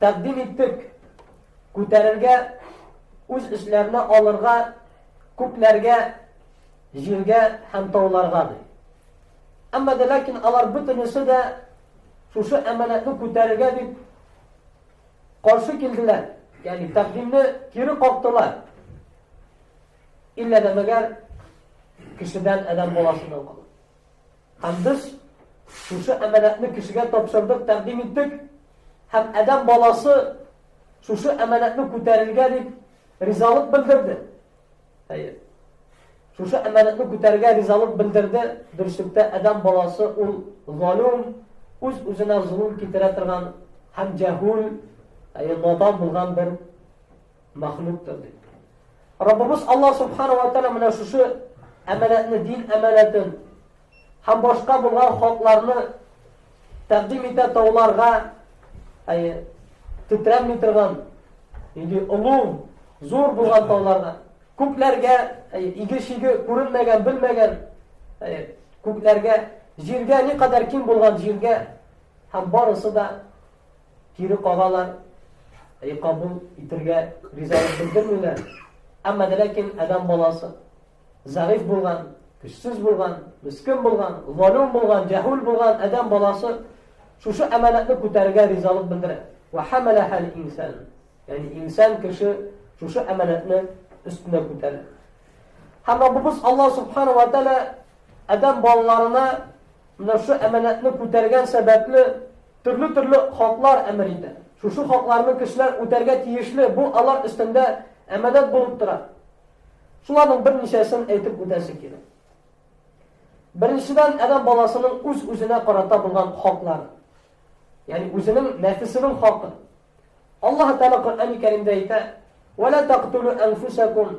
Тәкъдим иттек. Күтәрергә, үз эчләренә алырга күкләргә, җиргә һәм тауларга ди. Әмма дә ләкин алар бөтенесе дә шушы әманәтне күтәрергә дип каршы килделәр. Ягъни тәкъдимне кире кактылар. Иллә дә мәгәр кешедән адәм баласыннан калды. Һәм без шушы әманәтне кешегә тапшырдык, тәкъдим иттек. Һәм Адәм баласы шушы әманәтне күтәрергә дип ризалык белдерде. Әйе. Шушы әманәтне күтәрергә ризалык белдерде. Дөреслекдә Адәм баласы ул залим, үз-үзенә зулым китерә торган һәм җәһүл, әйе, надан булган бер мәхлуктыр дип. Раббыбыз Алла субхана ва тәгала менә шушы әмәләтне, дин әмәләтен һәм башка булган хакларны тәкъдим итә тауларга, әйе, титрәми торган, инде олуг, зур булган тауларга. Күкләргә, әйе, иге-шиге күренмәгән, белмәгән, әйе, күкләргә, җиргә ни кадәр киң булган җиргә һәм барысы да Кире кагалар, әй кабул итергә ризалык белдермиләр. Әмма дә ләкин адәм баласы зәгыйф булган, көчсез булган, мискин булган, залим булган, җәһүл булган адәм баласы шушы әманәтне күтәрергә ризалык белдерә. Ва хамалахал инсан. Ягъни инсан кеше шушы әманәтне өстенә күтәрә. Һәм Раббыбыз Аллаһ субхана ва тааля адәм балаларына менә шушы әманәтне күтәргән сәбәпле Төрле-төрле хаклар әмер итә. Шушы хакларны кешеләр үтәргә тиешле, бу алар өстендә әманәт булып тора. Шуларның берничәсен әйтеп үтәсе кирәк. Беренчедән, адәм баласының үз-үзенә карата булган хаклары. Ягъни үзенең нәфесенең хакы. Аллаһ Тәгалә Коръән-и Кәримдә әйтә: "Ва ла тактулу анфусакум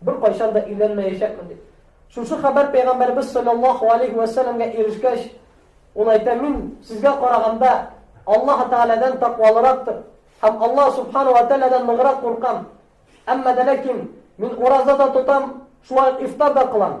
Беркайчан да өйләнмәячәкмен дип. Шушы хәбәр пәйгамбәрбез саллаллаһу алейхи ва сәлләмгә ирешкәч, ул әйтә, мин сезгә караганда Аллаһ Тәгаләдән тәкъвалырактыр һәм Аллаһ субхана ва тәгаләдән ныграк куркам. Әмма дә ләкин мин ураза да тотам, шулай ук ифтар да кылам.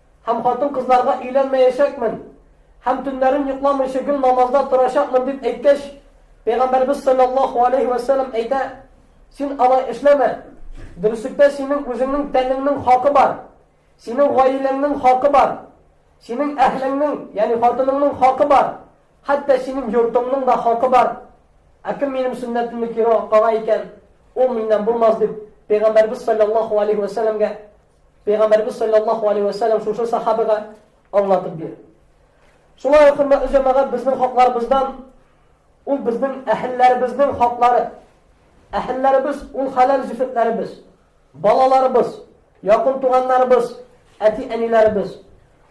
Һәм хатын-кызларга өйләнмәячәкмен һәм төннәрен йокламыйча гел намазда торачакмын дип әйткәч, Пәйгамбәрбез саллаллаһу алейһи вә сәлләм әйтә, син алай эшләмә. Дөреслектә синең үзеңнең тәнеңнең хакы бар. Синең гаиләңнең хакы бар. Синең әһлеңнең, ягъни хатыныңның хакы бар. Хәтта синең йортыңның да хакы бар. Ә кем минем сөннәтемне кире кага икән, ул миннән булмас дип Пәйгамбәрбез саллаллаһу алейһи вә сәлләмгә Пәйгамбәрбез саллаллаһу алейһи вә сәлләм шушы сахабага аңлатып бирде. Шулай ук хөрмәтле җәмәгать безнең хакларыбыздан ул безнең әһелләребезнең хаклары. Әһелләребез ул халал зифетләребез, балаларыбыз, якын туганнарыбыз, әти-әниләребез.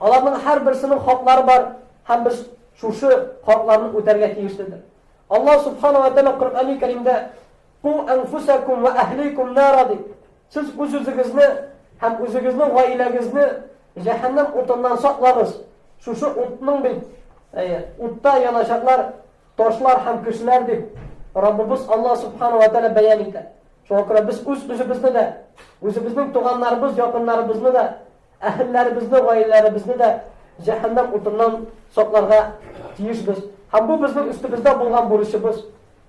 Аларның һәр берсенең хаклары бар һәм без шушы хакларны үтәргә тиешледер. Аллаһ субхана ва тааля Коръәни Кәримдә Ку әнфүсәкүм вә әһликүм нара дип, сез үз-үзегезне һәм үзегезнең гаиләгезне җәһәннәм утыннан саклагыз. Шушы утның бит, әйе, утта яначаклар, ташлар һәм кешеләр дип, Раббыбыз Алла субхану ва тәгалә бәян итә. Шуңа күрә без үз-үзебезне дә, үзебезнең туганнарыбыз, якыннарыбызны да Әһелләребезне, гаиләләребезне дә җәһәннәм утыннан сакларга тиешбез. Һәм бу безнең өстебездә булган бурычыбыз.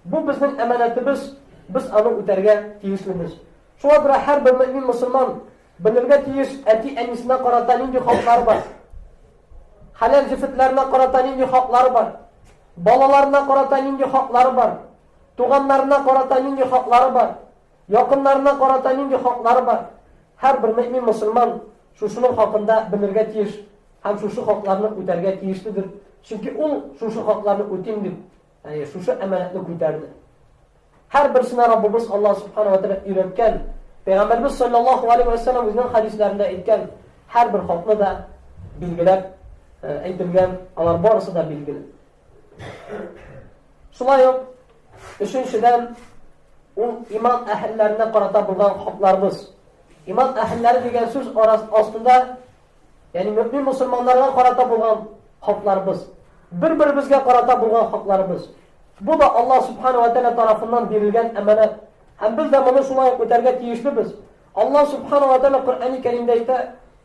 Бу безнең әманәтебез, без аны үтәргә тиешлебез. Шуңа күрә һәрбер мөэмин мөселман белергә тиеш, әти-әнисенә карата нинди хаклары бар. Хәләл җефетләренә карата нинди хаклары бар. Балаларына карата нинди хаклары бар. Туганнарына карата нинди хаклары бар. Якыннарына карата нинди хаклары бар? Һәрбер мөэмин мөселман шушының хакында белергә тиеш һәм шушы хакларны үтәргә тиешледер. Чөнки ул шушы хакларны үтим дип, яни шушы әманәтне күтәрде. Һәрберсенә Раббыбыз Аллаһ субхана ва тәгалә өйрәткән, Пәйгамбәрбез саллаллаһу алейхи ва саллям үзенең хадисләрендә әйткән һәрбер хакны да билгеләп әйтелгән, алар барысы да билгеле. Шулай ук, өченчедән, ул иман әһелләренә карата булган хакларыбыз. Иман әһелләре дигән сүз астында, ягъни мөмин мусламаннарга карата булган хакларыбыз, бер-беребезгә карата булган хакларыбыз. Бу да Аллаһ субхана ва тааля тарафыннан бирелгән әманәт. Һәм без дә моны шулай үтәргә тиешлебез. Аллаһ субхана ва тааля Коръәни Кәримдә әйтә: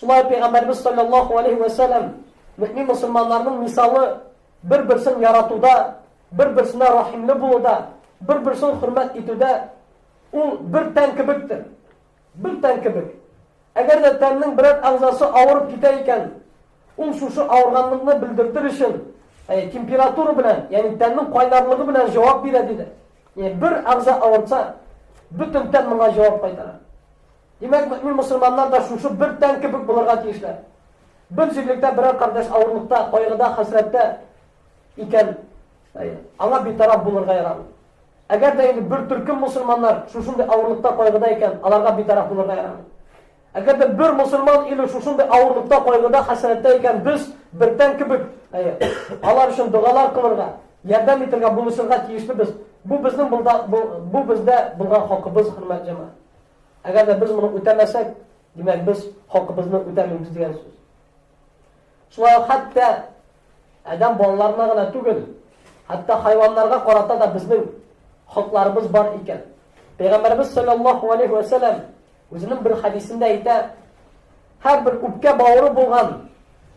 Шулай ук Пәйгамбәребез салләллаһу алейһи вә сәлләм мөэмин мөселманнарның мисалы бер-берсен яратуда, бер-берсенә рәхимле булуда, бер-берсен хөрмәт итүдә ул бер тән кебектер. Бер тән кебек. Әгәр дә тәннең берәр әгъзасы авырып китә икән, ул шушы авырганлыкны белдертер өчен э, температура белән, ягъни тәннең кайнарлыгы белән җавап бирә диде. Ягъни бер әгъза авырса, бөтен тән моңа җавап кайтара. Димәк, мөэмин мөселманнар да шушы бер тән кебек булырга тиешләр. Бер җирлектә берәр кардәш авырлыкта, кайгыда, хәсрәттә икән, аңа битараф булырга ярамый. Әгәр дә инде бер төркем мусульманнар шушындый авырлыкта кайгыда икән, аларга битараф булырга ярамый. Әгәр дә бер мусульман иле шушындый авырлыкта кайгыда хәсрәттә икән, без бертән кебек алар өчен догалар кылырга, ярдәм итәргә, булышырга тиешле без. Бу безнең булда, бу, бу бездә булган хакыбыз, хөрмәт җәмәгать. Әгәр дә без моны үтәмәсәк, димәк, без хакыбызны үтәмибез дигән сүз. Шулай ук хәтта адәм балаларына гына түгел, хәтта хайваннарга карата да безнең хакларыбыз бар икән. Пәйгамбәрбез саллаллаһу алейхи ва саллям үзенең бер хадисендә әйтә, һәрбер үпкә бавыры булган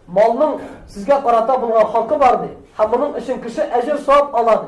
малның сезгә карата булган хакы бар ди, һәм моның өчен кеше әҗер савап ала ди.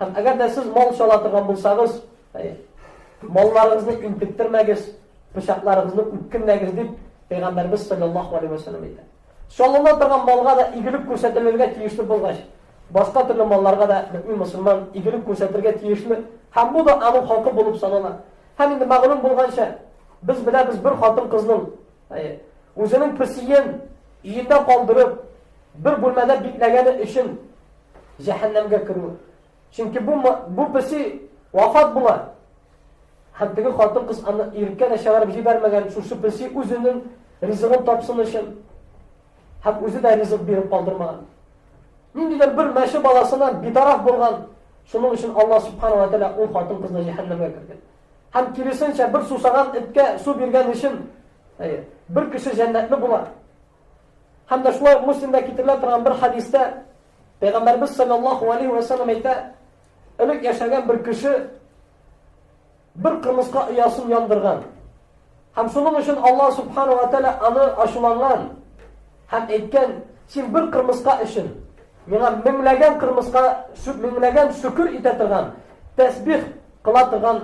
Һәм әгәр дә сез мал чала торган булсагыз, малларыгызны интектермәгез, пычакларыгызны үткенмәгез дип Пәйгамбәрбез саллаллаһу алейһи ва саллям әйтә. Чалына торган малга да игелек күрсәтелергә тиешле булгач, башка төрле малларга да мөмин мусульман игелек күрсәтергә тиешле. Һәм бу да аның хакы булып санала. Һәм инде мәгълүм булганча, без беләбез бер хатын кызның үзенең песиен өендә калдырып, бер бүлмәдә бикләгәне өчен Җәһәннәмгә керү. Чөнки бу бу песи вафат була. Һәм теге хатын кыз аны иркә дә чыгарып җибәрмәгән, шушы песи үзенең ризыгын тапсын өчен һәм үзе дә ризык биреп калдырмаган. Ниндидер бер мәше баласына битараф булган, шуның өчен Алла субхана ва тәала ул хатын кызны җәһәннәмгә кергән. Һәм киресенчә бер сусаган эткә су биргән өчен бер кеше җәннәтле була. Һәм дә шулай ук Муслимда китерелә торган бер хәдистә Пәйгамбәрбез саллаллаһу алейһи вә сәлләм әйтә, элек яшәгән бер кеше бер кырмыска оясын яндырган. Һәм шуның өчен Аллаһ субхану ва тәгалә аны ачуланган һәм әйткән, син бер кырмыска өчен миңа меңләгән кырмыска, меңләгән шөкер итә торган, тәсбих кыла торган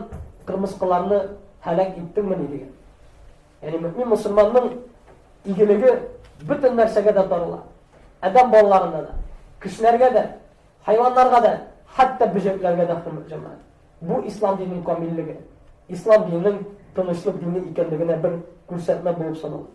кырмыскаларны һәлак иттеңмени дигән. Яни мөмин мусулманның игелеге бөтен нәрсәгә дә тарала. Адәм балаларына да, кешеләргә дә, хайваннарга да, хәтта бөҗәкләргә дә хөрмәт җәмәгать. Бу ислам диненең камиллеге. Ислам диненең тынычлык дине икәнлегенә бер күрсәтмә булып санала.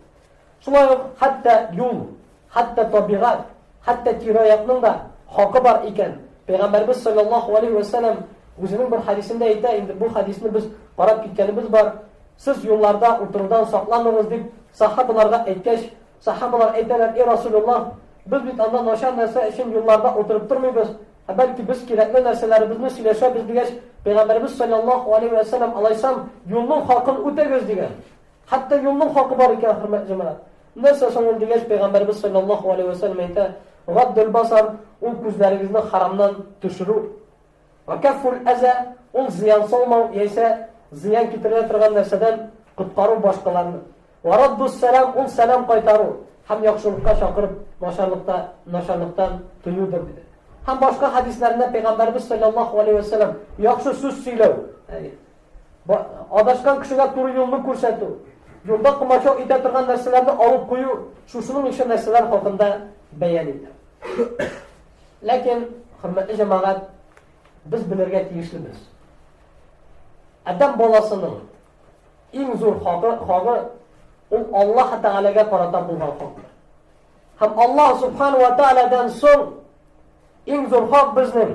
Шулай ук хәтта юл Хәтта табигать, хәтта тирә-якның да хакы бар икән. Пәйгамбәрбез саллаллаһу алейһи вә сәлләм үзенең бер хәдисендә әйтә, инде бу хәдисне без карап киткәнебез бар, сез юлларда утырудан сакланыгыз дип сахабаларга әйткәч, сахабалар әйтәләр, эй Расулуллаһ, без бит анда начар нәрсә өчен юлларда утырып тормыйбыз, ә бәлки без кирәкле нәрсәләребезне сөйләшәбез дигәч, пәйгамбәрбез саллаллаһу алейһи вә сәлләм алайсам юлның хакын үтәгез дигән. Хәтта юлның хакы бар икән, хөрмәтле җәмәгать. Нәрсә соң ул дигәч, пәйгамбәребез салләллаһу галәйһи вә сәлләм әйтә, Гаддул басар, ул күзләрегезне харамнан төшерү. Вә кәффул әза, ул зыян салмау яисә зыян китерә торган нәрсәдән коткару башкаларны. Вә раддус сәлам, ул сәлам кайтару һәм яхшылыкка чакырып, начарлыкта начарлыктан тыюдыр, диде. Һәм башка хәдисләрендә пәйгамбәребез салләллаһу галәйһи вә сәлләм яхшы сүз сөйләү, ягъни Адашкан кешегә туры юлны күрсәтү, юлда комачау итә торган нәрсәләрне алып кую, шушының ише нәрсәләр хакында бәян итә. Ләкин, хөрмәтле җәмәгать, без белергә тиешлебез. Адәм баласының иң зур хакы, хагы ул Аллаһ Тәгаләгә карата булган хак. Һәм Аллаһ Субхану ва Тәгаләдән соң иң зур хак безнең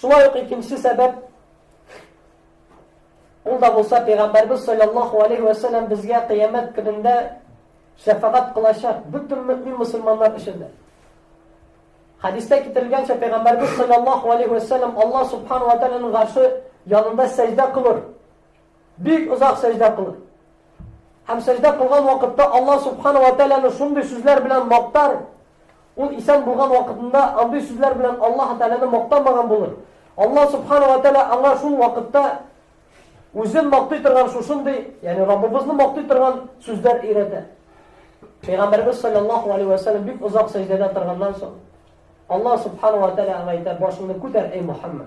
Шулай ук икенче сәбәп, ул да булса Пәйгамбәрбез салләллаһу алейһи вә сәлләм безгә кыямәт көнендә шәфәгать кылачак бөтен мөэмин мөселманнар өчен дә. Хәдистә китерелгәнчә Пәйгамбәрбез салләллаһу алейһи вә сәлләм Аллаһ субхану ва тааляның гарше янында сәҗдә кылыр. Бик озак сәҗдә кылыр. Һәм сәҗдә кылган вакытта Аллаһ субхана ва тәгаләне шундый сүзләр белән мактар. Ул исән булган вакытында андый сүзләр белән Аллаһ тәгаләне мактамаган булыр. Аллаһ субхана ва тәгалә аңа шул вакытта үзен мактый торган шушындый, ягъни Раббыбызны мактый торган сүзләр өйрәтә. Пәйгамбәрбез саллаллаху алейхи ва саллям бик озак сәҗдәдә торганнан соң Аллаһ субхана ва тәгалә аңа әйтә: "Башыңны күтәр, эй Мухаммад.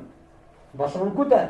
Башыңны күтәр.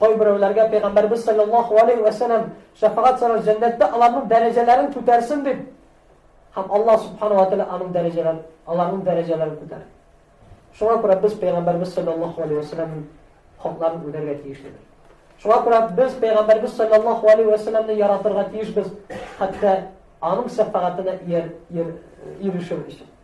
Кайберәүләргә Пәйгамбәрбез саллаллаһу алейһи вә сәлләм шәфәгать сорар, җәннәттә аларның дәрәҗәләрен күтәрсен дип. Һәм Аллаһ субханаһу ва тәгалә аның дәрәҗәләрен, аларның дәрәҗәләрен күтәрә. Шуңа күрә без Пәйгамбәрбез саллаллаһу алейһи вә сәлләмнең хакларын үтәргә тиешледер. Шуңа күрә без пәйгамбәрбез саллаллаһу алейһи ва саллямны яратырга тиешбез, хәтта аның шәфәгатенә ирешер өчен.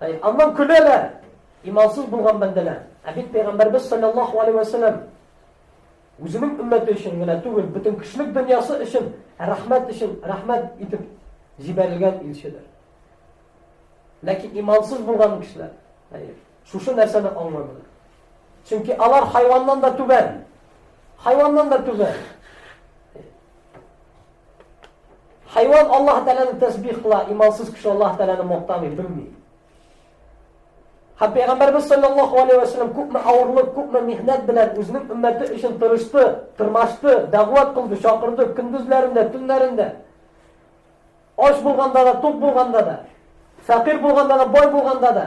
Әй, аннан көләләр! Имансыз булган бәндәләр. Ә бит пәйгамбәрбез саллаллаһу алейһи ва сәлләм үзенең өммәте өчен генә түгел, бөтен кешелек дөньясы өчен, рәхмәт өчен, рәхмәт итеп җибәрелгән илчедер. Ләкин имансыз булган кешеләр, әйе, шушы нәрсәне аңламыйлар. Чөнки алар хайваннан да түбән. Хайваннан да түбән. Хайван Аллаһ Тәгаләне тәсбих кыла, имансыз кеше Аллаһ Тәгаләне мактамый, белми. Һәм Пәйгамбәрбез саллаллаһу алейһи ва саллям күпме авырлык, күпме михнәт белән үзенең өммәте өчен тырышты, тырмашты, дәгъват кылды, чакырды, көндезләрендә, төннәрендә. Ач булганда да, тук булганда да, фәкыйр булганда да, бай булганда да.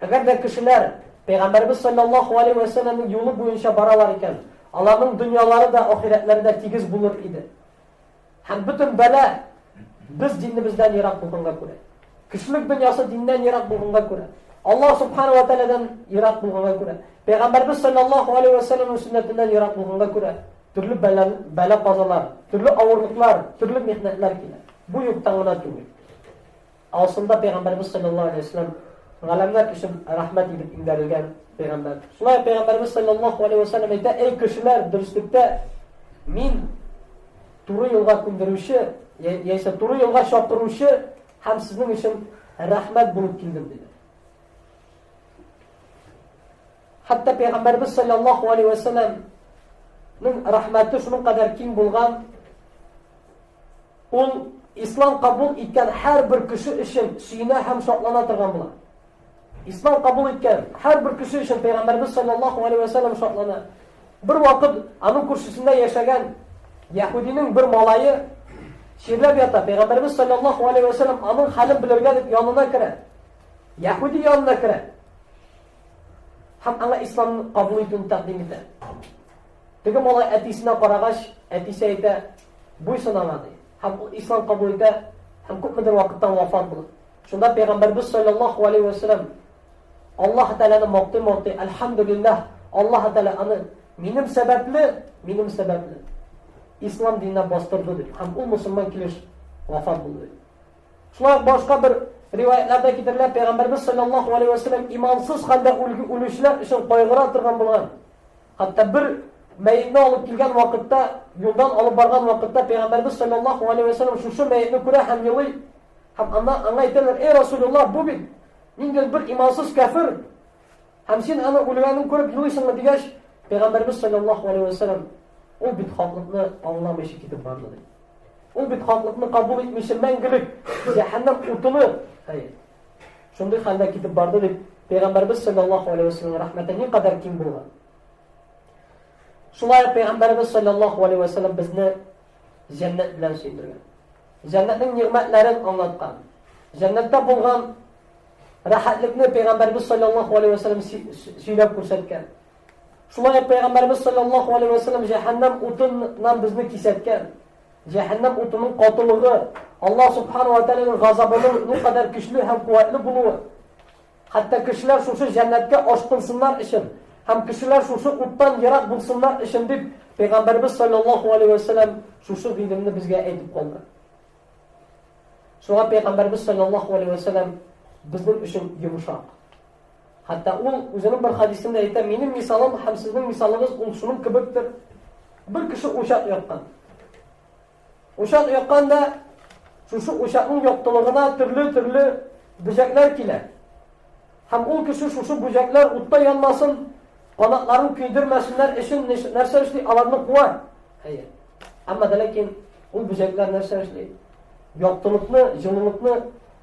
Әгәр дә кешеләр Пәйгамбәребез салләллаһу алейһи вә сәлләмнең юлы буенча баралар икән, аларның дөньялары да, ахирәтләре дә тигез булыр иде. Һәм бөтен бәла без динебездән ерак булганга күрә. Кешелек дөньясы диннән ерак булганга күрә. Аллаһ субхана ва тәгаләдән ерак булганга күрә. Пәйгамбәребез салләллаһу алейһи вә сәлләмнең сөннәтеннән ерак булганга күрә. Төрле бәла, бәла казалар, төрле авырлыклар, төрле михнәтләр килә. Бу юктан гына түгел. Асылында пәйгамбәребез саллаллаһу алейһи ва сәлләм галәмнәр өчен рәхмәт итеп иңдәрелгән пәйгамбәр. Шулай пәйгамбәребез саллаллаһу алейһи ва сәлләм әйтә, Әй кешеләр, дөреслектә мин туры юлга күндерүче, яисә туры юлга чакыручы һәм сезнең өчен рәхмәт булып килдем диде. Хәтта пәйгамбәребез саллаллаһу алейһи ва сәлләм Ның рәхмәте шуның кадәр киң булган, Ул Ислам кабул иткән һәрбер кеше өчен сөенә һәм шатлана торган була. Ислам кабул иткән һәрбер кеше өчен Пәйгамбәрбез саллаллаху алейһи ва саллям шатлана. Бер вакыт аның күршесендә яшәгән яһудиның бер малае чирләп ята. Пәйгамбәрбез саллаллаху алейһи ва саллям аның хәлен белергә дип янына керә. Яһуди янына керә. Һәм аңа ислам кабул итүен тәкъдим итә. Теге малай әтисенә карагач, әтисе әйтә, Буйсынама, ди. Һәм ул ислам кабул итә, һәм күпмедер вакыттан вафат була. Шунда пәйгамбәрбез саллаллаһу алейхи ва саллям Аллаһ Тәгаләне мактый-мактый, "Әлхәмдулиллаһ, Аллаһ Тәгалә аны минем сәбәпле, минем сәбәпле ислам диненә бастырды" дип, һәм ул мусульман килеш вафат булды. Шулай башка бер риваятларда китерелә, пәйгамбәрбез саллаллаһу алейхи ва саллям имансыз хәлдә үлүчеләр өчен кайгыра торган булган. Хәтта бер мәетне алып килгән вакытта, юлдан алып барган вакытта Пәйгамбәрбез саллаллаху алейһи вә сәлләм шушы мәетне күрә һәм елый. Һәм аннан аңа әйтәләр, "Эй Расулуллаһ, бу бит нинди бер имансыз кәфер, һәм син аны үлгәнен күреп елыйсыңмы?" дигәч, Пәйгамбәрбез саллаллаху алейһи вә сәлләм, "Ул бит хаклыкны аңламыйча китеп барды" диде. Ул бит хаклыкны кабул итмичә мәңгелек җәһәннәм утыны, әй, Шундый хәлдә китеп барды дип Пәйгамбәрбез саллаллаһу алейһи ва сәлләм рәхмәте ни кадәр киң булган. Шулай Пәйгамбәрбез саллаллаһу алейһи ва сәлләм безне җәннәт белән сөйдергән. Җәннәтнең нигъмәтләрен аңлаткан. Җәннәттә булган рәхәтлекне Пәйгамбәрбез саллаллаһу алейһи ва сәлләм сөйләп күрсәткән. Шулай Пәйгамбәрбез саллаллаһу алейһи ва сәлләм җәһәннәм утыннан безне кисәткән. Җәһәннәм утының катылыгы, Аллаһ субхана ва тәгаләнең газабының никадәр көчле һәм куәтле булуы. Хәтта кешеләр шушы җәннәткә ашкынсыннар өчен һәм кешеләр шушы уттан ерак булсыннар өчен дип Пәйгамбәрбез саллаллаһу алейһи ва сәлләм шушы гыйлемне безгә әйтеп калды. Шуңа Пәйгамбәрбез саллаллаһу алейһи ва сәлләм безнең өчен йомшак. Хәтта ул үзенең бер хәдисендә әйтә, минем мисалым һәм сезнең мисалыгыз ул шуның кебектер. Бер кеше учак яккан. Учак якканда шушы учакның яктылыгына төрле-төрле бөҗәкләр килә. Һәм ул кеше шушы бүҗәкләр утта янмасын, канатларын көйдермәсеннәр өчен нәрсә эшли? Аларны куа. Әйе. Әмма ләкин ул бүҗәкләр нәрсә эшли? Яктылыкны, җылылыкны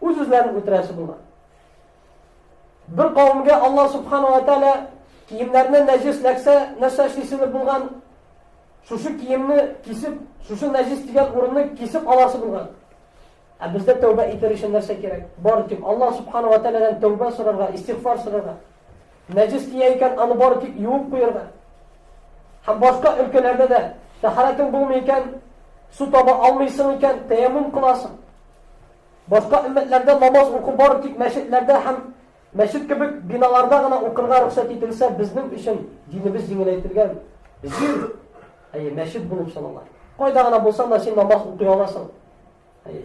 Үз-үзләрен үтерәсе булган. Бер кавымгә Алла субхана ва тәала киемнәрне нәҗес ләксә, нәрсә эшлисең булган? Шушы киемне кисеп, шушы нәҗес дигән урынны кисеп аласы булган. Ә бездә тәүбә итәр өчен нәрсә кирәк? Бар тик Алла субхана ва тәаладан тәүбә сорарга, истигъфар сорарга. Нәҗес тия икән, аны бары тик юып куерга. Һәм башка өлкәләрдә дә тәһарәтең булмый икән, су таба алмыйсың икән, тәяммум кыласың. Башка өммәтләрдә намаз уку бары тик мәчетләрдә һәм мәчет кебек биналарда гына укырга рөхсәт ителсә, безнең өчен динебез җиңеләйтелгән. Җир, әйе, мәчет булып санала. Кайда гына булсаң да син намаз укый аласың. Әйе.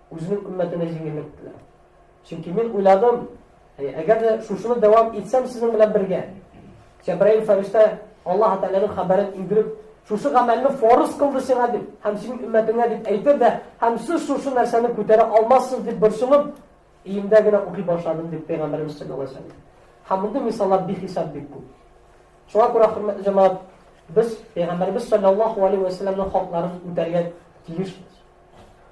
Үзенең өммәтенә җиңеллек теләп. Чөнки мин уйладым, әгәр дә шушыны дәвам итсәм сезнең белән бергә. Җәбраил фәрештә Аллаһ Тәгаләнең хәбәрен иңдереп, шушы гамәлне форс кылды сиңа дип, һәм синең өммәтеңә дип әйтер дә, һәм сез шушы нәрсәне күтәрә алмассыз дип борчылып, иемдә генә укый башладым дип пәйгамбәребез саллаллаһу алейһи ва сәлләм. Һәм мондый мисаллар бихисап бик күп. Шуңа күрә хөрмәтле җәмәгать, без пәйгамбәребез саллаллаһу алейһи ва сәлләмнең хакларын үтәргә тиешбез.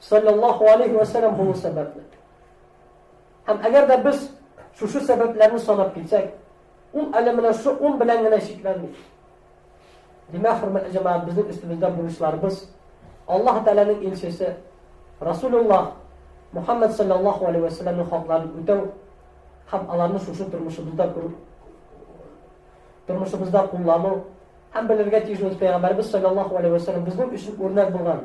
Саллаллаху алейхи вә сәләм булу сәбәпле. Һәм әгәр дә без шушы сәбәпләрне санап китсәк, ул әле менә шушы ун белән генә чикләнми. Димәк, хөрмәтле җәмәгать, безнең өстебездә бурычларыбыз Аллаһ Тәгаләнең илчесе Расулуллаһ Мухаммад саллаллаху алейхи вә сәләмнең хакларын үтәү һәм аларны шушы тормышыбызда күрү тормышыбызда куллану һәм белергә тиеш ул пәйгамбәрбез саллаллаху алейхи вәсәлләм безнең өчен үрнәк булган